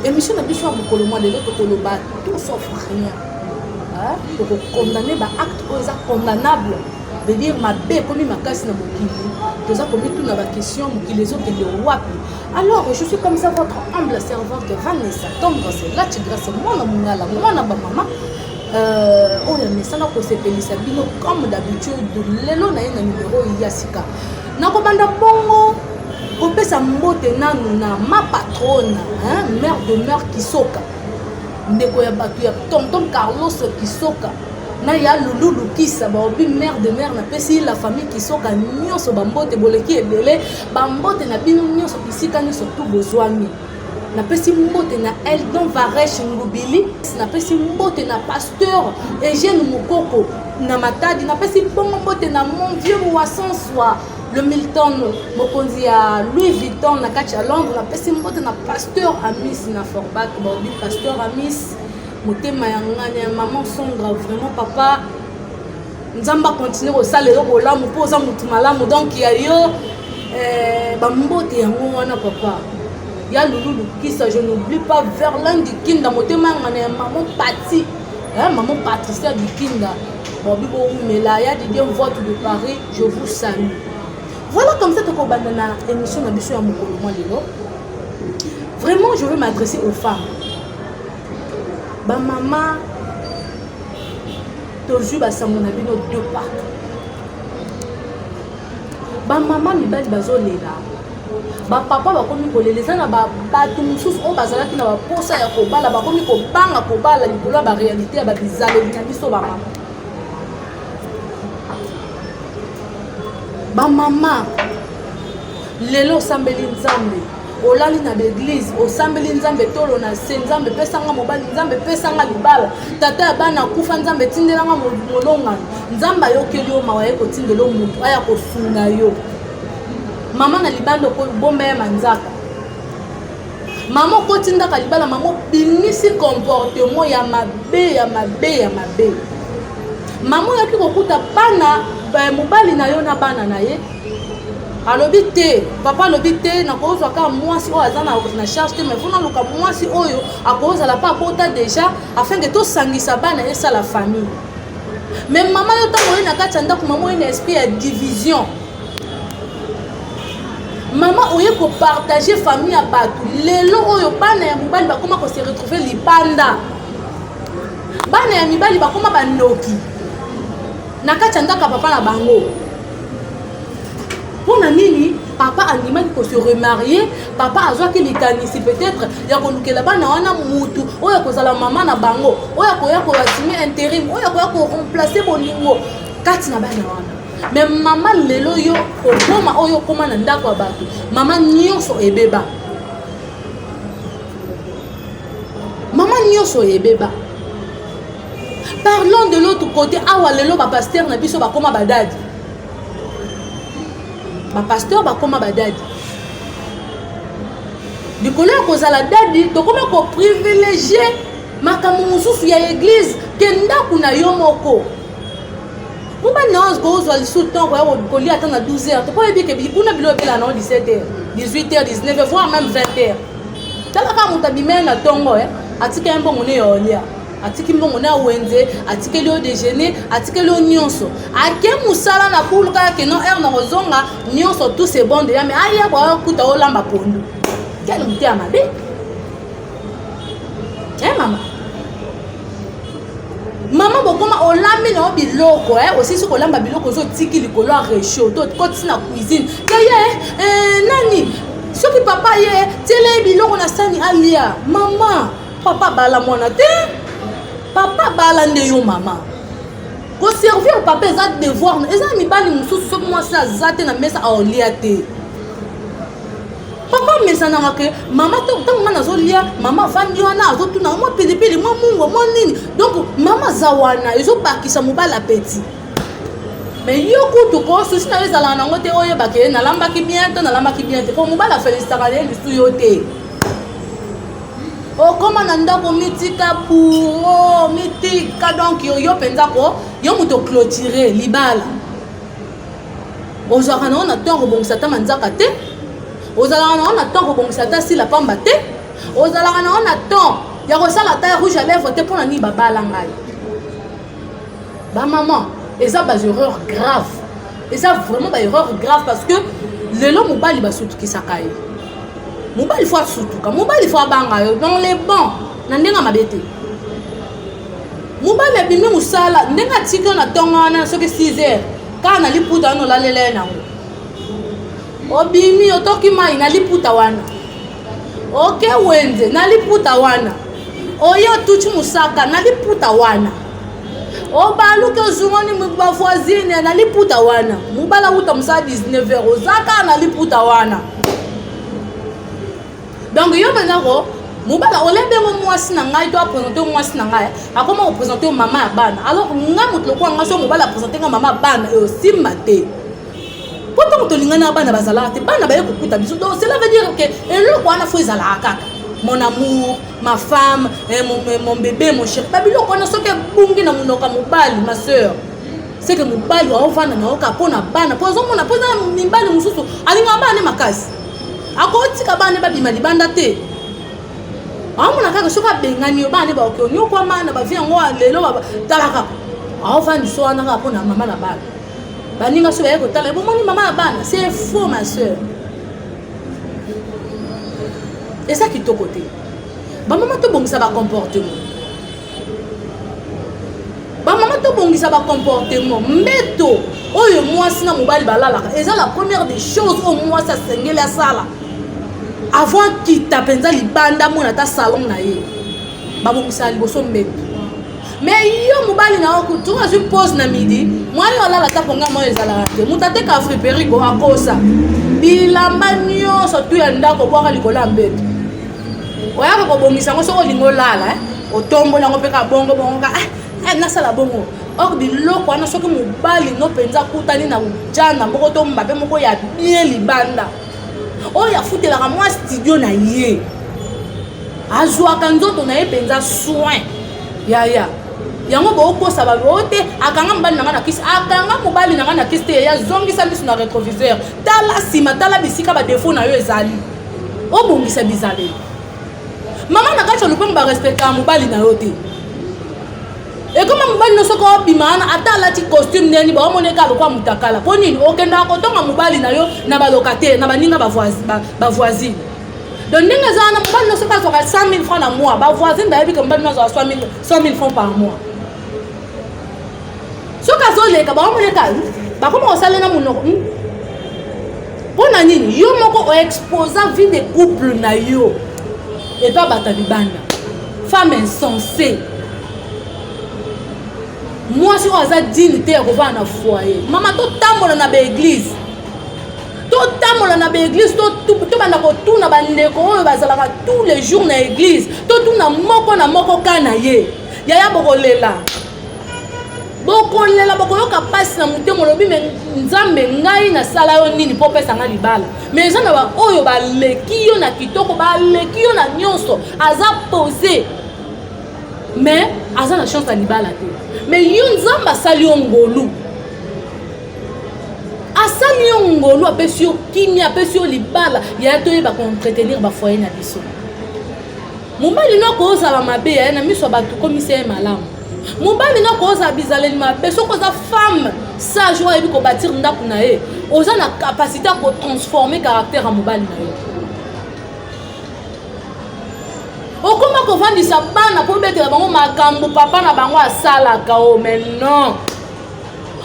Emission na biso ya mokolo mwa lelo tokoloba tout sauf rien. Hein? Tokokondamne ba acte oyo eza condamnable veut dire mabe ekomi makasi na mokili toza komituna bakestion mokili ezokende wapi alors je suis comme ça votre humble servante vanessa tendresse lati grâce mwana mongala mwana bamama euh, oyo amesana kosepelisa bino comme d'habitude lelo na ye na numero ya sika nakobanda bongo kopesa mbote nanu na ma patrone hein, mère de mère kisoka ndeko ya bato ya tonton carlos kisoka na ya lulu lukisa baobi mère de mère napesi la famille kisoka nyonso bambote boleki ebele bambote na bino nyonso bisika nyonso tu bozwami napesi mbote na eldon varesh ngubili napesi mbote na pasteur eugene mokoko na matadi napesi bongo mbote na mon vieux moasanswa le milton mokonzi ya louis vuitton na kati ya londres napesi mbote na pasteur amis na forbak baobi pasteur amis motema ya ngani ya maman sondra vraiment papa nzambe akontinue kosala yo bolamu mpo oza motu malamu donk ya yo eh, bambote yango wana papa ya lulu lukisa je n'oublie pas verlin dikinda motema yanga na ya mamo pati eh, mamo patricia dikinda bobi bowumela ya didie vote de paris je vous salue voilà comme ça tokobanda na émission na biso ya mokolo mwa lelo vraiment je veux m'adresser aux femmes bamama tozwi basango na bino de partout bamama mibali bazolela bapapa bakomi kolela eza na bato mosusu oyo bazalaki na baposa ya kobala bakomi kobanga kobala likolo ya barealité ya babizaleli na biso bamama bamama lelo osambeli nzambe olali na baeglize osambeli nzambe tolo na se nzambe pesanga mobali nzambe pesanga libala tata ya bana akufa nzambe tindelanga molongano nzambe ayokeli yo mawa ye kotindela motu aya kosunga yo mama na libanda okobomba ya manzaka mama okotindaka libala mama obimisi comportement ya mabe ya mabe ya mabe mama oyaki kokuta bana eh, mobali na yo na bana na ye alobi te papa alobi te nakozwa kaka mwasi oyo aza na charge te mais fona luka mwasi oyo akozala mpe abota déjà afin ke tosangisa bana esala famille mais mama yo ntango oye na kati ya ndako mama oye na esprit ya division mama oye kopartage famille ya bato lelo oyo bana ya mobali bakoma kose retrouve libanda bana ya mibali bakoma bandoki na kati ya ndako ya papa na bango mpo na nini papa andimaki ko se remarier papa azwaki likanisi peut-être ya kolukela bana wana mutu oyo akozala mama na bango oyo akoya koassume interim oyo akoya koremplace bolingo kati na bana wana me mama lelo yo okoma oyo okoma na ndako ya bato mama nyonso ebeba mama nyonso ebeba Parlons de l'autre côté, awa lelo ba pasteur na biso bakoma badadi. Ba pasteur bakoma badadi. Likolo ya kozala dadi, tokoma ko privilégier makambo mosusu ya église ke ndako na yo moko. Mpo ba naos kozwa lisusu temps koya kolia ata na 12 heures, toko yebi ke bikuna bilo ebela na 17 heures, 18 heures, 19 heures, voire même 20 heures. Talaka moto abimeli na tongo, eh, atika ye mbongo ne ya olia. atiki mbongo na wenze atikeli yo dejeuner atikeli yo nyonso ake mosala na bulu kaka keno heure na kozonga nyonso tout se bon deja mai aya bwaya kuta olamba pondu kele mote ya mabe e eh, mama mama bokoma olambi na yo biloko e eh, osisi kolamba biloko ozotiki likolo ya rechaud to kotisi na cuisine keye eh, nani soki papa ye tiela ye biloko na sani alia mama papa bala mwana te papa bala nde yo mama koservir papa eza devoir eza na mibali mosusu soki mwasi aza te na mesa aolia te papa amesanaka ke mama ntango nga nazolia mama afandi wana azotunaka mwa pilipili mwa mungo mwa nini donk mama aza wana ezobakisa mobali apeti mais yo kutu ko susi na yo ezalaka nango te oyebaka ye nalambaki bien to nalambaki bien te mpo mobali afelisitaka na ye lisusu yo te okoma na ndako mitika bouro mitika donk yo yo mpenza ko yo moto oclotire libala ozalaka nango na ntango kobongisa ata manzaka te ozalaka nango na ntango kobongisa ata sila pamba te ozalaka nango na temps ya kosala ata rouge à lèvre te mpo na nini babala ngai bamama eza baerreur grave eza vraiment baerreur grave parce que lelo mobali basutukisaka ye mobali fo asutuka mobali fo abanga yo donc le bon na ndenge ya mabe te mobali abimi mosala ndenge atiki yo na ntongo wana soki 6 heures kaka na liputa wana olalela ye nango obimi otoki mai na liputa wana oke wenze na liputa wana oye otuti mosaka na liputa wana obaluki ozungani bavoisine na liputa wana mobali awuta mosala 19 heure oza kaka na liputa wana donc yo mpenza ko mobali olembi yango mwasi na ngai to apresente yo mwasi na ngai akoma kopresente yo mama ya bana alors ngai moto lokola ngai so mobali apresente ngai mama ya bana eosimba te po ntango tolinganaka bana bazalaka te bana baye kokuta biso donc cela veut dire ke eloko wana fo ezalaka kaka mon amour ma femme eh, mon, eh, mon bébé mon chéri babiloko wana soki ebungi na monoko ya mobali ma sœur seke mobali waovanda na yoka mpo na bana mpo azomona mpo eza mibali mosusu alingaka bana ne makasi akotika bana ne babima libanda te aomona kaka soki abengani yo bana ne baoke onyokwama na bavi yango lelo talaka aovandisa wana kaka mpo na mama na bana baninga so baye kotala bomoni mama ya bana c'est faux ma soeur eza kitoko te bamama tobongisa bacomportement bamama tobongisa bacomportement mbeto oyo mwasi na mobali balalaka eza la première des choses oyo mwasi asengeli asala avant akita mpenza libanda amona ata salon na ye babongisaka liboso mbeto mais yo mobali na yo kutu oyo azwi pose na midi mwa yo alala ata konga mwa yo ezalaka te moto ateka afriperiko akosa bilamba nyonso tu ya ndako bwaka likolo ya mbeto oyaka kobongisa yango soki olingi olala eh? otomboli yango mpe ka bongo bongo ka ah, eh, nasala bongo or biloko wana soki mobali no mpenza akutani na ujana moko to mbabe moko ya bien libanda oyo afutelaka mwa studio na ye azwaka nzoto na ye mpenza soin yaya yango bokosa bango te akanga mobali na ngai na kisi akanga mobali na ngai na kisi te yazongisa miso na retroviseur tala nsima tala bisika badefo na yo ezali obongisa bizaleli mama na kati ya lopango barespectaka mobali na yo te ekoma mobali no soki obima wana ata alati costume ndeni baomoneka alokwa mutakala mpo nini okendaka kotonga mobali na yo na balokatele na baninga bavoisine donc ndenge eza wana mobali no soki azwaka 100 000 francs na mois bavoisine bayebi ke mobali no azwaka 100 000 francs par mois soki azoleka baomoneka bakoma kosala na monoko hmm? mpo na nini yo moko oexposa vie de couple na yo epa bato ya libanda femme insensé mwasi oyo aza digne te ya kovanda na foyer mama totambola na baeglise totambola na baeglise tobanda kotuna bandeko oyo bazalaka tous les jours na eglise totuna moko na moko ka na ye yaya bokolela bokolela bokoyoka mpasi na motema olobi me nzambe ngai nasala yo nini mpo opesa ngai libala me eza na baoyo baleki yo na kitoko baleki yo na nyonso aza pose me aza na chance ya libala te me yo nzambe asali yo ngolu asali yo ngolu apesi yo kimia apesi yo libala yaya toyeba koentretenir bafoye na biso mobali no akozala mabe yaye na miso ya bato komisa ye malamu mobali no akozala bizaleli mabe soki oza femme sage oyo ayebi kobatire ndako na ye oza na kapasité ya kotransforme caractère ya mobali na yo okoma kovandisa bana mpo obetela bango makambo papa na bango asalaka o oh, mais non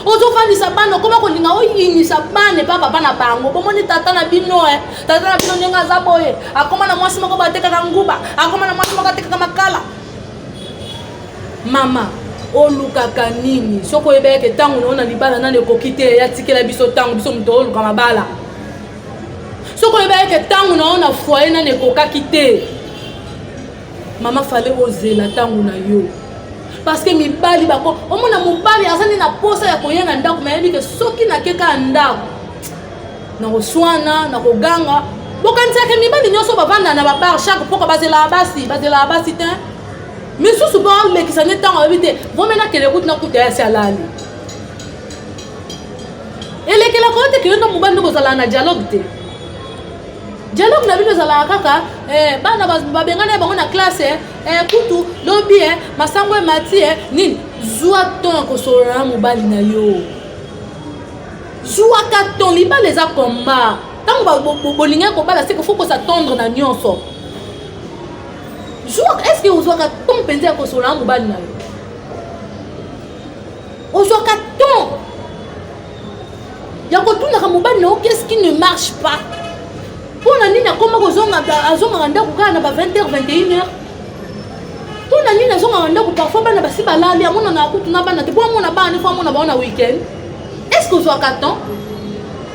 ozofandisa bana okoma kolinga oyinisa bana epa papa na bango bomoni tata na bino e tata na bino ndenge aza boye akoma na mwasi moko batekaka nguba akoma na mwasi moko atekaka makala mama olukaka nini soki oyebelaka ntango na yo na libala nani ekoki te yatikela biso ntango biso moto oluka mabala soki oyebelaka ntango na yo na foye nani ekokaki te mama fale ozela ntango na yo parce que mibali bako omona mobali aza nde na posa ya koya na ndako nayebi ke soki nakeka ndako nakoswana nakoganga bokanisaka mibali nyonso bavanda na babar chaque mpoka bazelaka basi bazelaka basi te misusu mpo alekisa nde ntango ayebi te vome nakende kutu nakuta yasi alali elekelaka yo te keyonda mobali nde kozalaka na dialogue te dialogue na bino ezalaka kaka eh, bana babengana bango na classe eh, eh, kutu lobi eh, masango emati eh, nini zwa ton ya kosolola na mobali na yo zwaka ton libala eza komba ntango bolingi kobala seke fo kosa tendre na nyonso zwaka estce ozwaka ton mpenza ya kosolola na mobali na yo ozwaka ton ya kotunaka mobali na yo qu'est-ce qui ne marche pas mpo na nini akoma azongaka ndako kaka na ba 20 heures 21 heures mpo na nini azongaka ndako parfois bana basi balali amonanaka kutu na bana te mpo amona bana nefo amona bango na week-end est-ce que ozwaka temps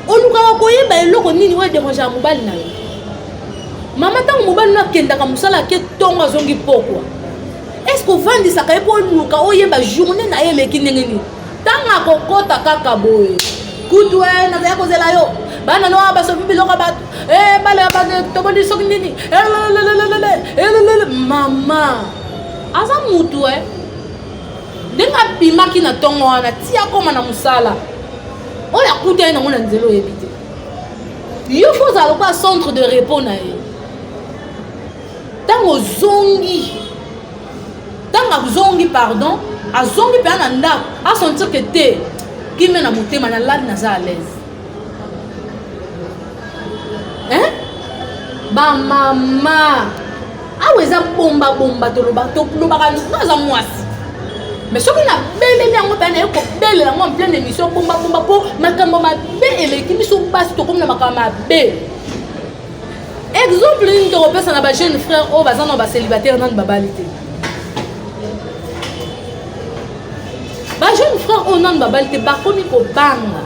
olukaka koyeba eloko nini oyo ederangeaka mobali na yo mama ntango mobali no akendaka mosala ake ntongo azongi pokwa est ce que ovandisaka ye mpo oluka oyeba journée na ye eleki ndenge nini ntango akokota kaka boye kutu e eh, nazali kozela yo bana noa basopi biloko ya bato eh, bale ya bato tobondeli soki nini eh, mama aza mutu e ndenge abimaki na ntongo wana ti akoma na mosala oyo akutani nango na nzela oyebi te yo fo ozala lokola centre de repos na ye ntango ozongi ntango azongi pardon azongi mpenza na ndako asentir ke te kimia na motema nalali naza alaise hein bamama awa eza bombabomba tolobaka tolobaka naza mwasi mais soki nabeleli yango mpe naye kobelela yango en pleine émission bombabomba mpo makambo mabe eleki biso basi tokomi na makambo mabe exemple nini tokopesa na bajeune frère oyo baza na bacélibataire nani babali te bajeune frère oyo nani babali te bakomi kobanga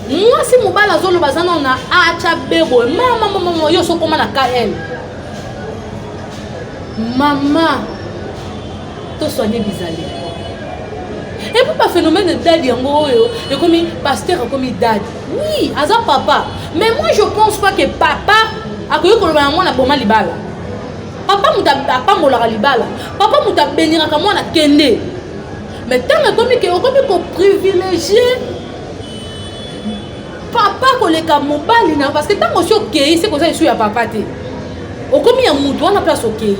mwasi mobali azoloba aza nao na acha beboye mamamamama yo sokoma na kl mama toswane bizali epuis baphénomène dadi yango oyo ekomi paster akomi dadi oui aza papa mais moi je pense pas que papa akoki koloba na mwana boma libala papa moto apambolaka libala papa moto abeniraka mwana kende mais ntango ekomi ke okomi koprivilegie papa koleka mobali na parce que ntango osi okei se koza esu ya papa te okomi ya moto wana place okei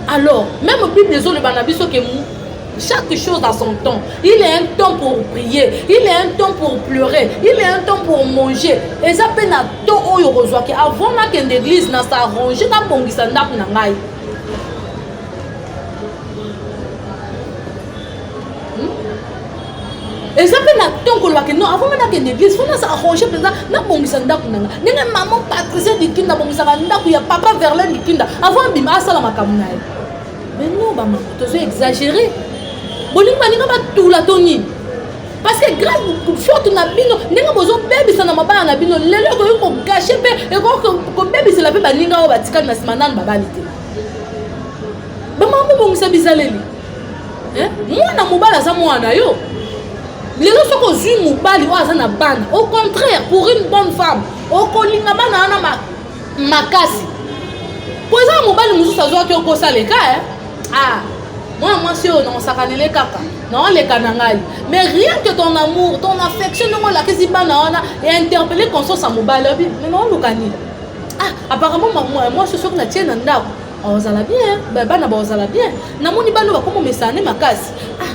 alors meme bible ezoloba na biso ke Chaque chose a son temps. Il est un temps pour prier. Il est un temps pour pleurer. Il est un temps pour manger. Et ça peine à temps où il reçoit que avant ma qu'une église n'a sa rangée n'a pas ça n'a pas n'a eza mpe na ntongo kolobaka non avant nga nakende église fo naza arrange mpenza nabongisa ndako na nga ndenge mama patricia likinda abongisaka ndako ya papa verlin likinda avant abima asala makambo na ye Mais non, ba maman, tozo exagérer. Bolingo balinga batula to nini? parce que grave faute na bino ndenge bozobebisa na mabala na bino lelo ekoki kogashe mpe ekoki kobebisela mpe baninga oyo batikali na nsima nanu babali te bamama bobongisa bizaleli mwana mobali aza mwana yo lelo soki ozwi mobali oyo aza na bana au contraire pour une bonne femme okolinga bana wana makasi po eza na mobali mosusu azwaki okosala eka eh? ah mwana mwasi oyo naosakanele kaka naoleka na ngai mais rien que ton amour ton affection ndenge olakisi bana wana ya interpelle conscience ya mobali obi me naoluka nini ah apparemment mwasi soki natie na ndako ozala bien bana baozala bien namoni bana bakoma omesana nde makasi ah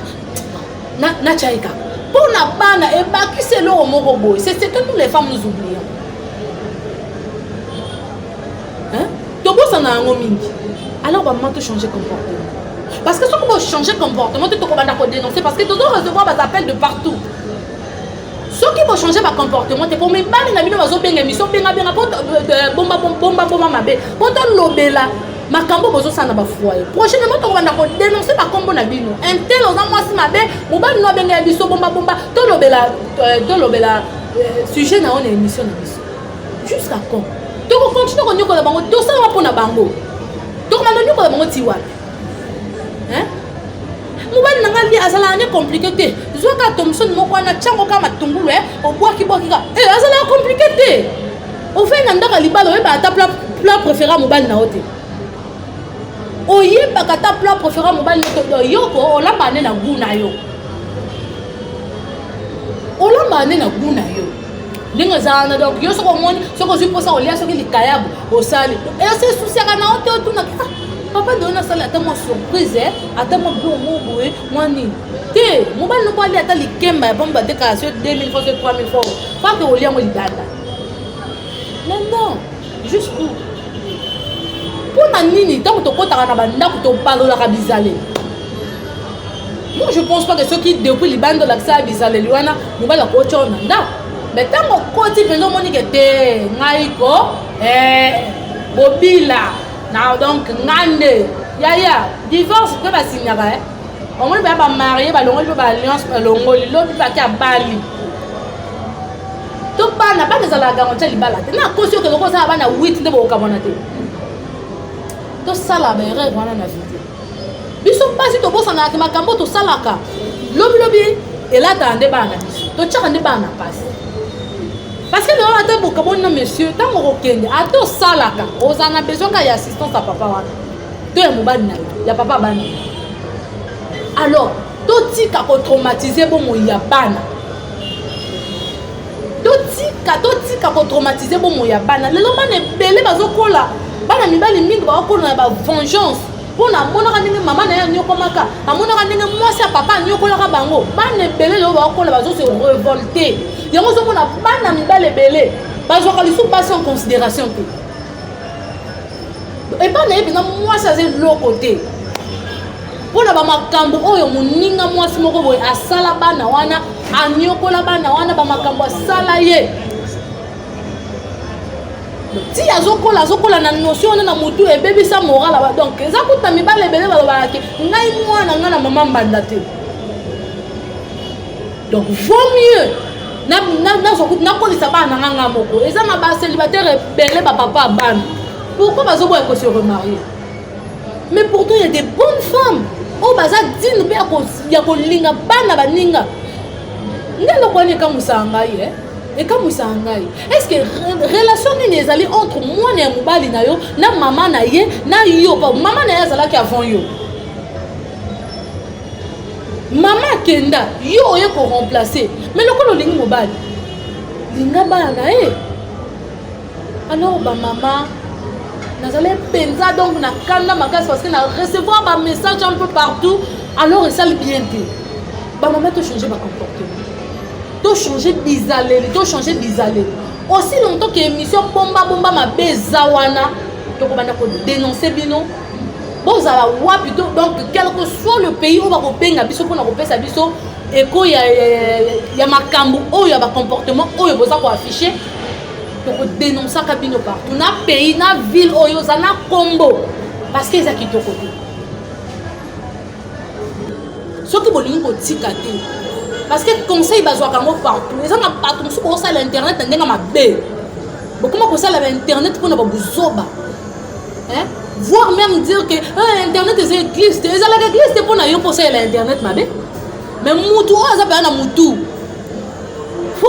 na na chai kaka mpo na bana ebakisi eloko moko boye c'est ce que nous les femmes nous oublions hein tobosana yango mingi alors bamama to changer comportement parce que soki bochanger comportement te tokobanda kodénoncer parce que tozo recevoir bas appel de partout soki bo changer ba comportement te po mibali na bino bazo benga emission benga benga po euh, euh, bomba bomba bomba mabe po to lobela makambo bozosala na bafoye prochainement tokobanda kodenonse bakombo na bino intel oza mwasi mabe mobali no abengela biso bombabomba tolobela euh, tolobela euh, sujet na yo na émission na biso jusqu'à quand tokokontinue konyokola bango tosalama mpo na bango tokomanda onyokola bango ti wapi mobali na ngai azalaka ne komplike te zwa kaka tomisoni moko wana tiango kaka matungulu e obwaki bwaki kaka e azalaka komplike te ofei na ndako ya libala oyebaka ata plat préféré ya mobali na yo te oyebaka ata plat préféré ya mobali na yo te yoko olambaka nde na gu na yo olambaka nde na gu na yo ndenge eza wana donc yo soki omoni soki ozwi mposa kolia soki likayabu osali esi esusiaka na yo te otunaki ah, papa deyo nasali ata mwa surprise eh, ata mwa biloko moko boye mwa nini te mobali noko alia ata likemba ya bomba te kasi yo 2000 fois 3000 fois fake olia yango libanda mais non jusqu'où mpo na nini ntango tokotaka na bandako tobalolaka bizaleli moi je pense pas que soki depuis libanda olakisaka bizaleli wana mobali akotya na ndako me ntango okoti mpenza omoni ke te ngai ko eh, bobila na donc ngai nde yaya divorce mpe basinyaka e eh. omoni baya bamarie balongoli mpe baalliance balongoli lobi bake abali to bana bana ezalaka gango tya libala te nakosi yo keloko oza na bana 8 nde bokokamwana te tosala baerreur wana na vie te biso mpasi tobosanaka te makambo tosalaka lobilobi elataka nde bana na biso totyaka nde bana na mpasi parce que lelo ata bokaboni na monsieur ntango okokende ata osalaka ozala na besoin kaka ya assistance ya papa wana to ya mobali na yo ya papa abana alors totika kotraumatise bomoi ya bana totika totika kotraumatize bomoi ya bana lelo bana ebele bazokola bana mibali mingi bakokola na bavengeance mpo na amonaka ndenge mama na ye anyokomaka amonaka ndenge mwasi ya papa anyokolaka bango bana ebele lelo bakokola bazose revolte yango ozomona bana mibali ebele bazwaka lisusu basi en considération te epai na ye mpenza mwasi aza eloko te mpo na bamakambo oyo moninga mwasi moko boye asala bana wana anyokola bana wana bamakambo asala ye ti azokola azokola na notion wana na motu ebebisa moral aba donc eza kuta mibale ebele balobaka ke ngai mwana ngai na mama mbanda te donc vaut mieux nakolisa bana na nga nga moko eza na bacélibataire ebele bapapa ya bana pourquoi bazoboya kose remarie mais pourtant ya des bonnes femmes oyo baza dine mpe ya kolinga bana baninga nde eloko wana ekamwisaka ngai e ekamwisaka ngai estce relation nini ezali entre mwana ya mobali na yo na mama na ye na yo mama na ye azalaki avant yo mama akenda yo oye koremplace me lokola olingi mobali linga bana na ye alors bamama nazali mpenza donc na kanda makasi parce que na recevoir bamessage un peu partout alors esali bien te bamama tochange bacomportement tochange bizaleli tochange bizaleli aussi longtemps ke émission bombabomba mabe eza wana tokobanda kodenonse bino bozala wapi to donc quelque soit le pays oyo bakobenga biso mpona kopesa biso eko ya, ya, ya, ya makambo oyo ya bacomportement oyo boza koaffiche tokodenonsaka bino partout na pays na ville oyo oza na kombo parce que eza kitoko te soki bolingi kotika te parce que conseil bazwaka yango partout eza na bato mosusu bokosala internet na ndenge mabe bokoma kosala ba internet mpona babuzoba hein? voir même dire que eh, internet eza eglise te ezalaka eglise te mpo na yo mpo osalela internet mabe mais mutu oyo aza mpenza na mutu mpo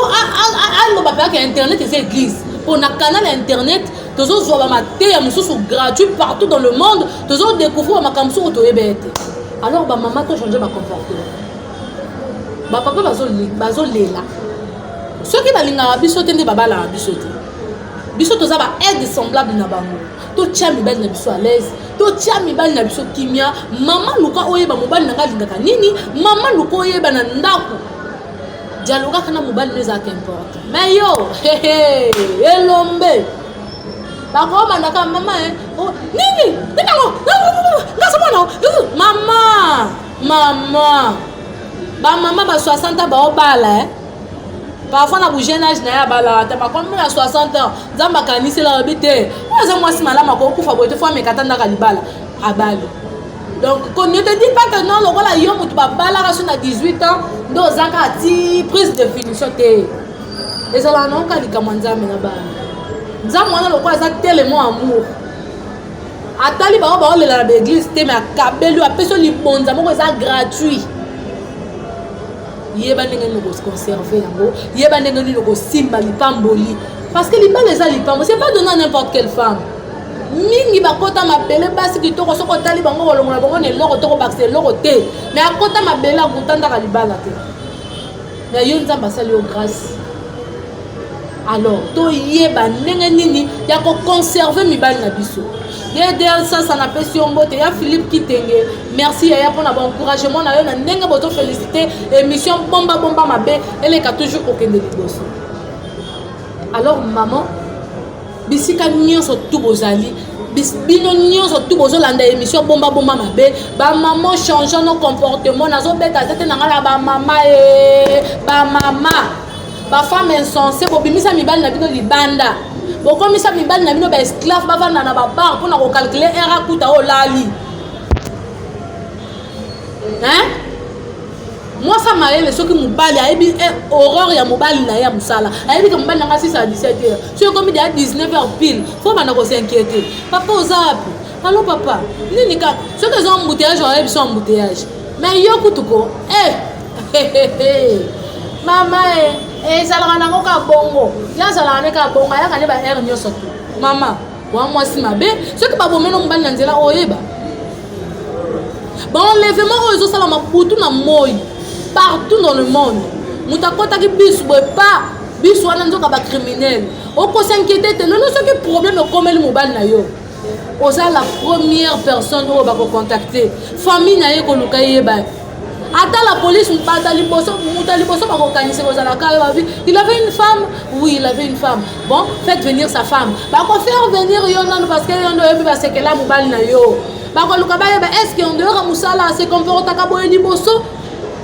aloba mpenza ke internet eza eglise mpo na canal ya internet tozozwa bamateya mosusu gratuit partout dans le monde tozodécouvrir bamakambo mosusu oyo toyeba ye te alors bamama tochange bacomportement bapapa bazolela soki balingaka biso te nde babalaka biso te biso toza ba aide semblable na bango totya mibali na biso alaise totya mibali na biso kimia mama luka oyeba mobali na ngai alingaka nini mama luka oyeba na ndako dialogaka na mobali no ezalaka importe me yo elombe bakomandaka mama eh, oh, nini ninango ngasomona mama mama bamama ba 60 baobala eh. parfois na bojeune age na ye abalaka te makomi na 60 ans nzambe akanisela alobi te oyo aza mwasi malamu akokufa boye te fo amekata ndaka libala abali donc ne te dis pas que non lokola yo moto babalaka so na 18 ans nde oza kaka ti prise de finition te ezalaka naoka likambo ya nzambe na bana nzambe wana lokola aza telemo amour atali bango baolela na baeglise te me akabeli yo apesi yo libonza moko eza gratuit yeba ndenge nini okoconserve yango yeba ndenge nini okosimba lipamboli parce que libala eza lipambo c'est pas donna n'importe quelle femme mingi bakota mabele basi kitoko soki otali bango kolongola bango na eloko to kobakisa eloko te me akota mabele akutandaka libala te na yo nzambe asali yo grâce alors toyeba ndenge nini ya koconserve mibali na biso dedel sasa napesi yo mbote ya philippe kitenge merci yaya mpona baencouragement na yo na ndenge bozofelicite émission bomba bomba mabe eleka toujours kokende liboso alors maman bisika nyonso tu bozali bino nyonso tu bozolanda émission bomba bomba mabe bamama changeant nos comportement nazobeta zete na ngai na bamama e eh, bamama ba femme insensé bobimisa mibali na bino libanda bokomisa mibali na bino baesclave bavanda na babar mpona kokalkule r akuta oyo olali mwasa mayele soki mobali ayebi eh, horreur ya mobali na ye ya mosala ayebi ke mobali na ngai 6 a 17 heure soki ekomi deya 19 heure pile fo banda kosinquiete papa oza wapi Allo papa, nini kaka? Soki eza embouteillage, on ayebi so embouteillage. Mais yo kutu ko, eh! Mama eh, ezalaka nango kaka bongo. Ya azalaka ne kaka bongo, ayaka ne ba heure nyonso tu. Mama, wa mwasi mabe, soki babomeli mobali na nzela oyeba. Baenlèvement oyo ezosalama butu na moi, partout dans le monde. Moto akotaki bisu boye pa bisu wana nzoka bacriminele okosi inquiete te lelo soki problème ekomeli mobali na yo oza la première personne oyo bakocontacte famille na ye koluka eyeba ata la police bata liboso moto ya liboso bakokanisa kozalaka yo babi il avait une femme oui il avait une femme bon faites venir sa femme bakofaire venir yo nano parce que yo nde oyebi basekela mobali na yo bakoluka bayeba est ce que ondeyoka mosala se comportaka boye liboso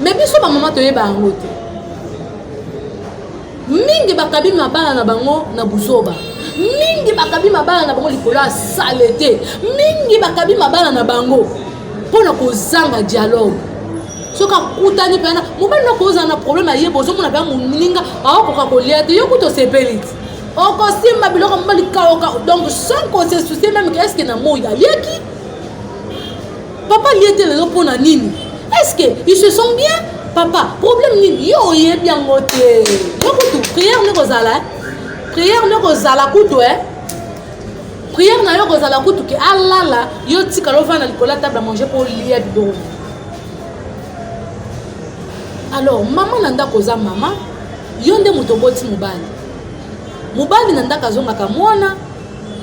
mais biso bamama toyeba yango te mingi bakabi mabala na bango na buzoba mingi bakabi mabala na bango likolo ya salete mingi bakabi mabala na bango mpo na kozanga dialogue soki akutani mpena mobali noko ozala na probleme ayeba ozomona mpe moninga aokoka kolia te yo kutu osepeli te okosimba biloko mobali kaoka donc sans kose soucie meme ke eske na moi aliaki Papa liye te lelo pona nini? Est-ce que ils se sont bien? Papa, problème nini? Yo oyebi yango te. Yo kutu prière ne kozala. Prière ne kozala kutu eh. Prière na yo kozala kutu ke alala, yo tika lo vana likola table à manger pour lier bidoro. Alors maman na ndako oza maman, yo nde moto oboti mobali. Mobali na ndako azongaka mwana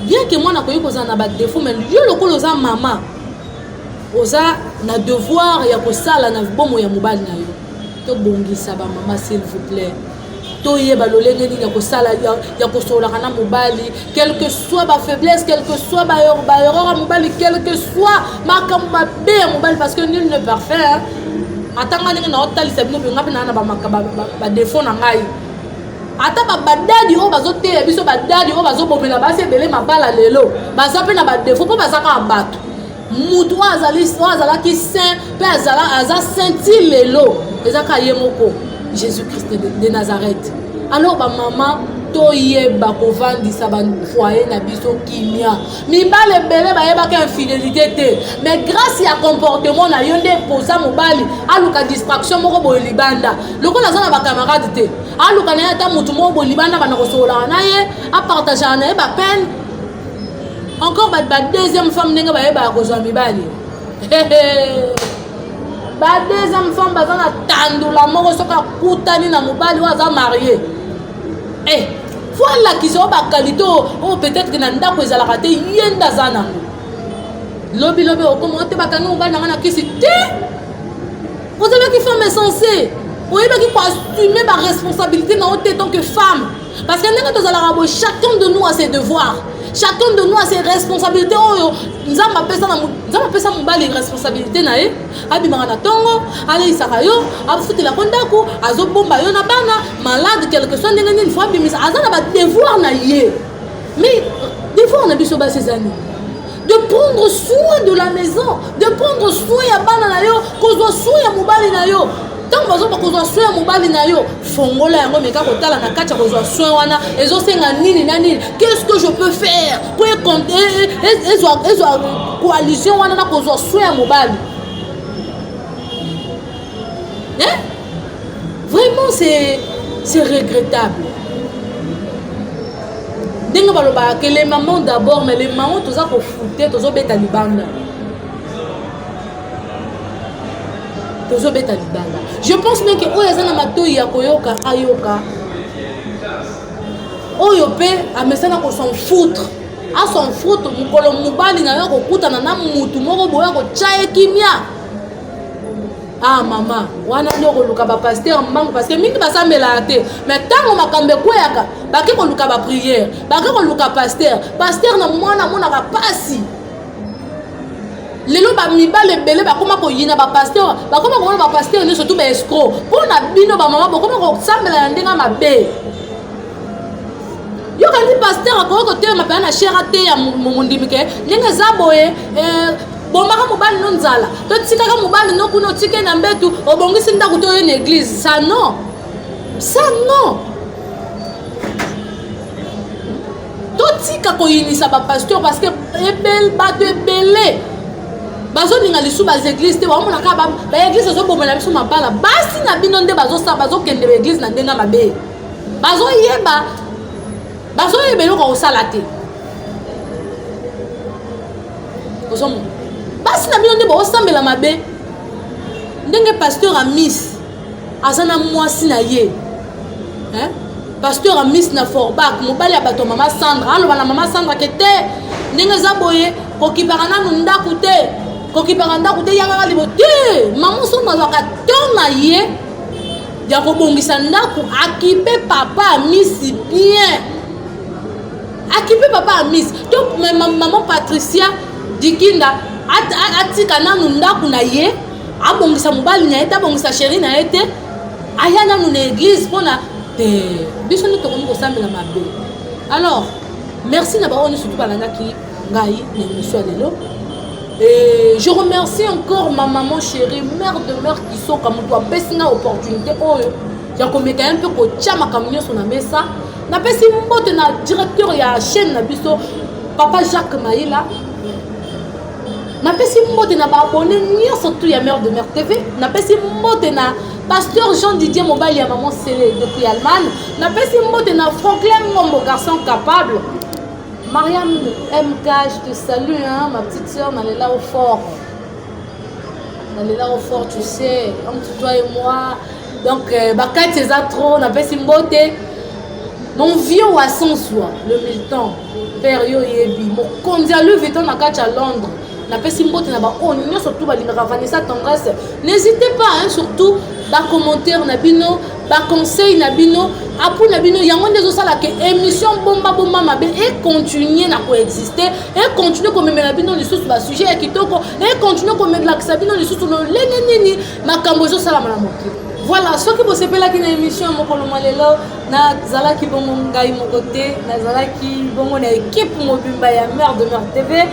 bien que mwana akoki kozala na badefaut mais yo lokola oza mama oza na devoir ya kosala na bomo ya mobali na yo tobongisa bamama s'il vous plaît toyeba lolenge nini ya kosala ya kosololaka na mobali quelque soit bafaiblesse quelque soit baerreur ya mobali quelque soit makambo mabe ya mobali parce que nul ne parfait atanga ndenge na otalisa bino mpenga mpe naa na badefaut na ngai ata babadadi oyo bazoteya biso badadi oyo bazobomela basi ebele mabala lelo baza mpe na badefo mpo baza kaka bato motu oyo azali oyo azalaki saint mpe aza sainti lelo eza kaka ye moko jésus christ de, de nazareth alors bamama toyeba kovandisa bafoye na biso kimia mibali ebele bayebaka infidélité te mais grâce ya comportement na yo nde posa mobali aluka distraction moko boye libanda lokola aza na bacamarade te aluka na ye ata motu moko bolibana bana kosololaka na ye apartagaka na ye bapeine encore ba deuxième femme ndenge bayebaka kozwa mibali ba deuxième femme baza na tandula moko soki akutani na mobali oyo aza marie eh, fo alakisa oyo bakalite oyo oh, peut-être na ndako ezalaka te ye nde aza nango lobilobi okoma ote bakangi mobali na ngai na kisi te ozalaki femme insensée oyebaki koassume baresponsabilité na yo te tant que femme parce que ndenge tozalaka boye chacun de nous a ses devoirs chacun de nous a ses responsabilités oyo nzambe apesa na nzambe apesa mobali responsabilité na ye abimaka na ntongo aleisaka yo afutelako ndako azobomba yo na bana malade quelque soit ndenge nini fo abimisa aza na badevoir na ye mais devoir na biso basi eza nini de prendre soin de la maison de prendre soin ya bana na yo kozwa soin ya mobali na yo ntango bazoba kozwa soin ya mobali na yo fongola yango meka kotala na kati ya kozwa soin wana ezosenga nini na nini qu'est-ce que je peux faire po ezwa coalition wana na kozwa soin ya mobali hein? vraiment c'est c'est regrettable ndenge balobaka ke le maman d'abord mais le maman toza kofute tozobeta libanda tozobeta libanda je pense meke oyo aza na matoi ya koyoka ayoka oyo mpe amesana kosan foutre asan foutre mokolo mobali na yo akokutana na motu moko boye akotya ye kimia ah mama wana nde okoluka bapaster mbangu parce que mingi basambelaka te mais ntango makambo ekweyaka bake koluka bapriere bake koluka paster paster na mwana amonaka mpasi lelo bamibali ebele bakoma koyina bapaster bakoma komona bapaster nyonso tu baescro mpo na bino bamama bokoma kosambela na ndenge mabe yokandi paster akoki kotelema mpena na shere ateya mondimi ke ndenge eza boye eh, bomaka mobali no nzala to tikaka mobali no kuna otike na mbetu obongisi ndako to oye na eglize sa non sa non totika koyinisa bapasteur parce que ebel bato ebele bazolinga lisu baeglise te baomona kaka baeglise ezobomela biso mabala basi na bino nde bazosala bazokende baeglise na ndenge mabe bazoyeba bazoyeba eloko kosala te ozomo basi na bino nde baosambela mabe ndenge pasteur amis aza na mwasi na ye hein? pasteur amis na forbak mobali ya bato ya mama sandra aloba na mama sandra ke te ndenge eza boye kokipaka nanu ndako te kokipaka ndako te yangaka libo te mama somo azwaka to na ye ya kobongisa ndako akipe papa amisi bien akipe papa amis to maman patricia dikinda atika nanu ndako na ye abongisa mobali na ye te abongisa sheri na ye te aya nanu na eglise mpona te biso nde tokomi kosambela mabe alors merci na baoyo nyonso tobalandaki ngai na emission ya lelo Et je remercie encore ma maman chérie, mère de mère qui sont comme toi, Bessina opportunité, oh, il y a comme un peu que Tchama Kamignon sur la mesa, napesi mbote na directeur ya chaîne na biso papa jacques maila napesi mbote na baabone nyonso tu ya mare de mare tv napesi mbote na pasteur jean didier mobali ya maman sele depuis allemagne napesi mbote na franklin ngombo garçon capable mariam mk je te salue hein, ma petite soeur nalela au fort nalela au fort tu sais entre toi et moi donc euh, bakati eza trop napesi mbote mon vieux wason swa le militant père yo oyebi mokonzi ya louis vuitton na kati ya londres napesi mbote na baoyo nyonso tu balingaka vanessa tendresse n'hésitez pas hein, surtout bacommentaire na bino baconseil na bino apui na bino yango nde ezosala ke émission bombabomba mabe econtinue na koexiste econtinue komemela bino lisusu basujet ya kitoko econtinue komelakisa bino lisusu lolenge nini makambo ezosalama na mokili voilà soki bosepelaki na émission ya mokolo mwa lelo nazalaki bongo ngai moko te nazalaki bongo na ekipe mobimba ya mare de mare tv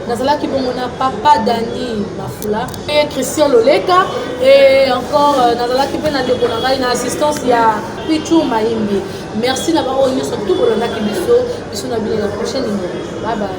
nazalaki bongo na papa dani mafula e christian loleka e encore euh, nazalaki mpe na ndeko na ngai na assistance ya pichu mayimbi merci na baoyo nyonso tu bolandaki biso biso na bino na prochaine numéro babaye